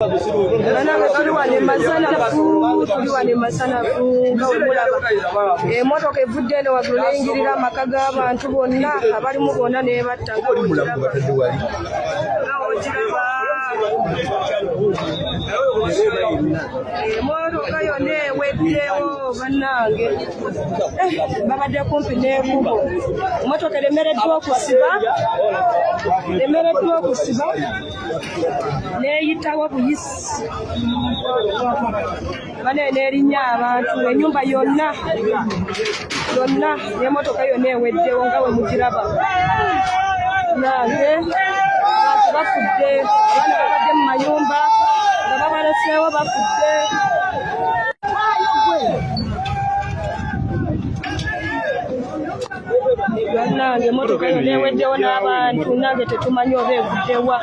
banange tuli wano emasanafu tuli wano emasanafu nga wemulaba emotoka evudde eno wagulu neyingirira amaka g'abantu bonna abalimu bonna nebatta nga wogiraba emotoka yonna eweddewo bannange eh, babadde kumpi n'ekubo emotoka eremereddwa okusiba eremereddwa okusiba neyitawo buyisi bane nerinya abantu enyumba yonna yonna nemotoka yonna eweddewo nga wemugiraba nange abantu bafudde abaana babadde mu mayumba nga babaleseewo bafudde bannange emotoka eyo neweddewo n'abantu nange tetumanyi oba eguddewa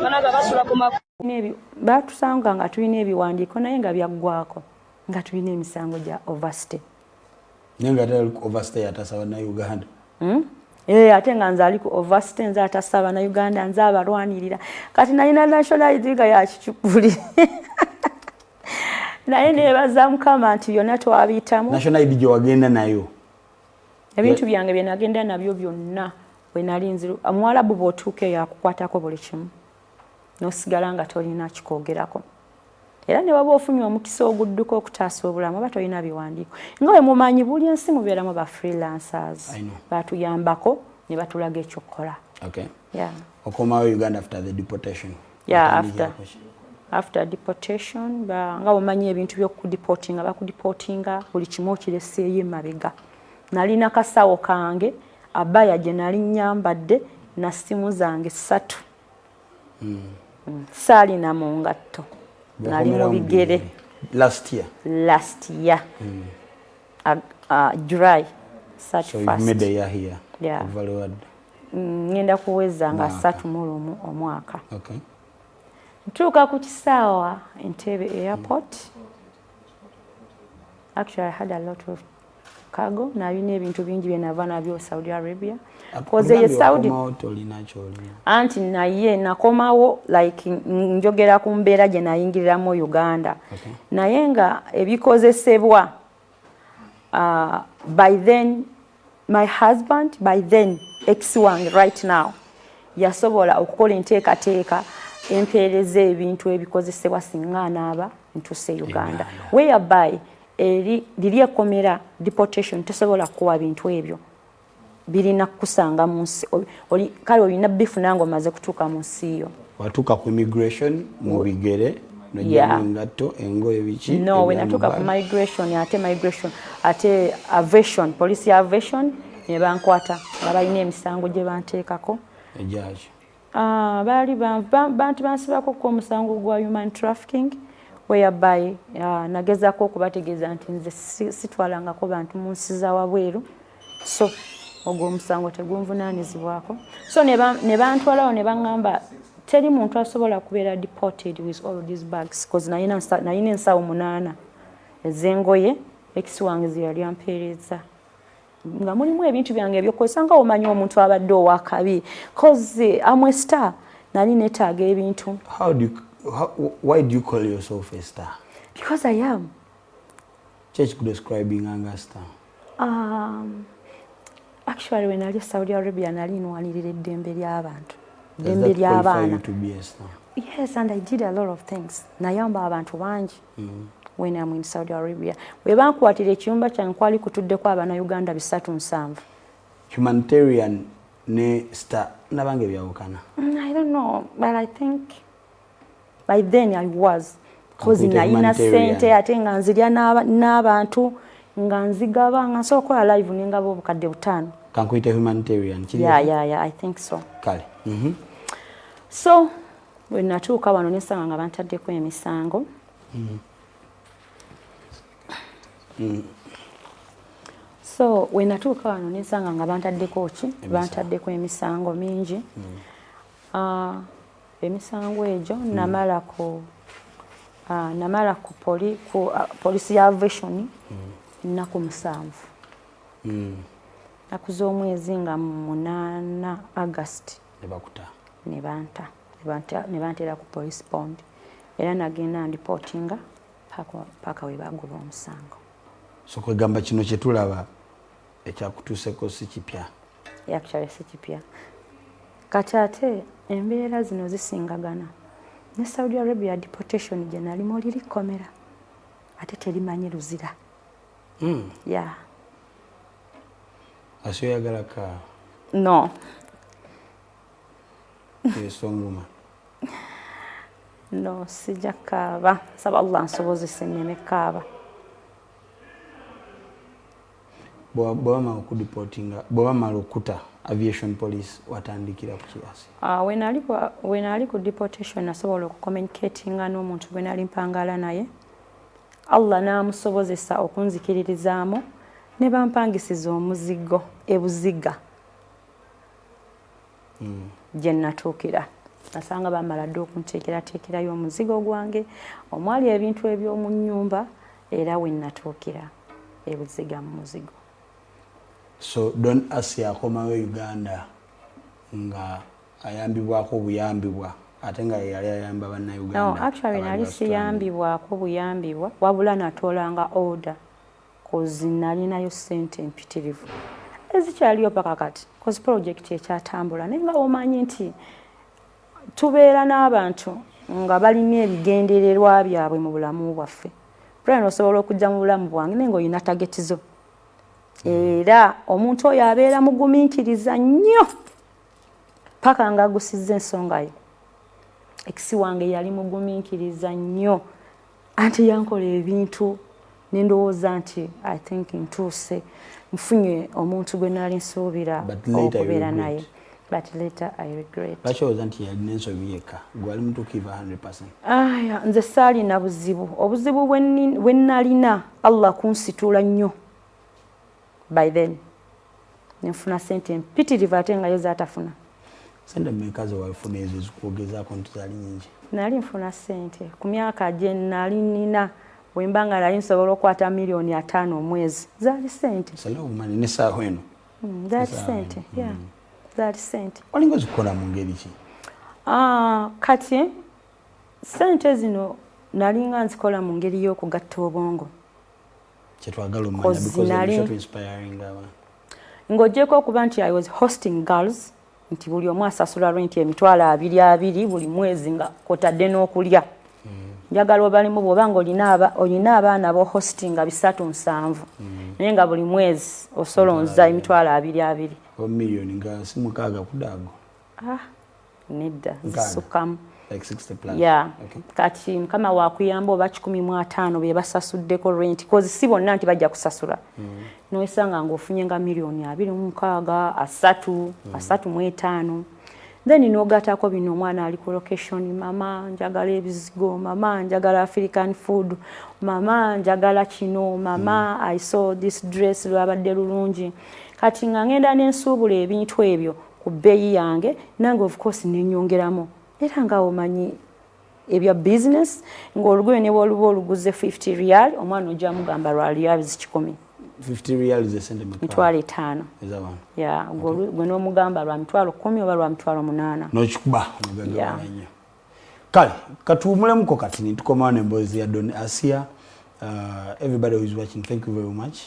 banaga basula ku batusanga nga tulina ebiwandiiko naye nga byaggwako nga tulina emisango gya overstay naye nga ate overstay atasa bannauganda hmm? ee eh, ate nga nze ali ku overstay nze atasa bannauganda nze abalwanirira kati nalina national id nga yakicupuli naye nebaza mukama nti byonna twabiyitamu national id gyewagenda nayo ebintu byange bye nagenda nabyo byonna bwe nali nziru omuwalabu bw'otuuka eyo akukwatako buli kimu n'osigala nga tolina kikwogerako era ne waba ofunye omukisa ogudduka okutaasa obulamu oba tolina biwandiiko nga we mumanyi buli ensi mubeeramu ba freelancers batuyambako ne batulaga ekyokukola okomawo uganda after the deportation yeah, after, after deportation nga omanyi ebintu byokudipotinga bakudipotinga buli kimu okireseeyo emabega nalina kasawo kange abaya gye nali nyambadde na simu zange satu mm. mm. saalina mu ngatto nali mu bigere last year, last year. Mm. uh, uh, july mm, ngenda kuweza nga satu mulumu omwaka okay. ntuuka ku kisaawa entebe airport mm. actually i had a lot of cargo nalina ebintu bingi byenava nabyo saudi arabia mm. koze ye saudi anti naye nakomawo like njogera ku mbeera gye nayingiriramu uganda okay. naye nga ebikozesebwa uh, by then my husband by then ex wange right now yasobola okukola enteekateeka empeereza ebintu ebikozesebwa singa anaaba ntuse uganda whereby eri liri ekomera deportation tesobola kukuwa bintu ebyo birina kukusanga mu nsi kale olina bifuna nga omaze kutuuka mu nsi yo watuuka ku immigration mu bigere nojaengatto engoye biki no wenatuuka ku migration ate migration ate avation police ya avation nebankwata nga balina emisango gye banteekako egyaki Ah, baali bantu bansibako ku omusango gwa human trafficking whereby ah, nagezako okubategeeza nti nze sitwalangako bantu mu nsi za wabweru so ogwo omusango tegunvunaanizibwako so ne bantwalawo ne baŋŋamba teri muntu asobola kubeera deported with all these bags bcause nalina ensawo munaana ez'engoye ekisi wange ze yali ampeereza nga mulimu ebintu byange ebyokukozesa nga omanyi omuntu abadde owakabi coze amwe star nali netaaga ebintu why do you call yourself a star because i am kyekikudescribing anga star um, actually when ali saudi arabia nali nwanirira eddembe ly'abantu eddembe ly'abaana yes and i did a lot of things nayamba abantu bangi mm. when am in saudi arabia we bankwatira ekiyumba kyange kwali kutuddeko abana uganda bisatu nsanvu humanitarian ne star nabange byawukana mm, i don't know but i think by then i was kozi nayina sente ate nga nzirya n'abantu nga nzigaba nga nsobola okukola live nengaba obukadde butaano kankuyite humanitarian yeah, yeah, yeah, i think so kale mm -hmm. so bwe natuuka wano nesanga nga bantaddeko emisango mm. Mm. so wenatuuka wano nensanga nga bantaddeko ki bantaddeko emisango mingi mm. uh, emisango egyo mm. namala ku uh, namala ku, poli, ku uh, polisi ya avation mm. ennaku musanvu mm. nakuza omwezi nga munaana agasti nebakuta nebanta nebantera ku police bond era nagenda ndipotinga paka webagoba omusango so kwegamba kino kyetulaba ekyakutuuseko si kipya actually si kipya kati ate embeera zino zisingagana ne saudi arabia deportation gyenalimu liri kkomera ate terimanyi luzira mm. yeah. asi oyagala ka no esonguma no sija kaaba saba allah nsobozese neme kaaba bwebamala okudipotinga bwebamala okuta aviation police watandikira ku kiasi ah, wenali ku deportation nasobola okucommunicatinga n'omuntu gwenali mpangala naye Allah n'amusobozesa okunzikiririzaamu ne bampangisiza omuzigo e Buziga mm. gye natuukira nasanga bamala dda okunteekerateekerayo omuzigo gwange omwali ebintu eby'omu nnyumba era we natuukira e Buziga mu muzigo so don asi akomawo e Uganda nga ayambibwako obuyambibwa ate nga yeyali ayamba bannayuganda actually nali siyambibwako buyambibwa wabula natolanga order kozi nalinayo sente empitirivu ezikyaliyo paka kati kozi pulojekiti ekyatambula naye nga omanyi nti tubeera n'abantu nga balina ebigendererwa byabwe mu bulamu bwaffe pulani osobola okujja mu bulamu bwange naye nga olina tageti zo era omuntu oyo abeera mugumiikiriza nnyo paka nga agusizza ensonga ye ekisi wange yali mugumiikiriza nnyo anti yankola ebintu nendowooza nti i think ntuuse nfunye omuntu gwe naali nsuubira okubeera naye but later i regret bakyowoza nti yalina ensobi yekka gwali mutuukivu 100 aya nze saalina buzibu obuzibu bwe nnalina allah kunsituula nnyo by then nenfuna sente mpitirivu ate ngayo zatafuna sente mmeka zewafuna ezo zikuogezaako nti zali nyingi nali nfuna sente ku myaka gye nali nina wemba nga nali nsobola okukwata miliyoni ataano omwezi zaali sente salaumani nesaawa eno hmm, zaali sente hmm. zaali sente olinga ozikukola mu ngeri ki ah, kati sente zino nalinga nzikola mu ngeri y'okugatta obwongo kyetwagala ng'ogyeko okuba nti i was hosting girls nti buli omu asasula renti emitwalo abiri abiri buli mwezi nga kotadde n'okulya mm. njagala obalimu bwoba nga olina abaana bo hosting nga bisatu nsanvu mm. naye nga buli mwezi osolonza emitwalo abiri abiri ah. nedda zisukkamu kati mukama wakuyamba oba kikumi mu ataano be basasuddeko renti kozi si bonna nti bajja kusasula mm. noesanga ngaofunye nga miliyoni abiri mumukaaga asatu mm. asatu mu etaano then nogatako bino omwana ali ku location mama njagala ebizigo mama njagala african food mama njagala kino mama mm. i saw this dress lwabadde lulungi kati nga ngenda nensuubula ebintu ebyo ku bbeeyi yange nange of course nenyongeramu era nga omanyi ebya business ng'olugoye ne bwoluba oluguze 50 real omwana ojja mugamba lwa reals kikumi mitwalo etaano gwe n'omugamba lwa mitwalo kumi oba lwa mitwalo munaana nokikuba nyo kale katuwumulemuko kati nitukomawo nemboozi ya don asia uh, everybody who is watching thank you very much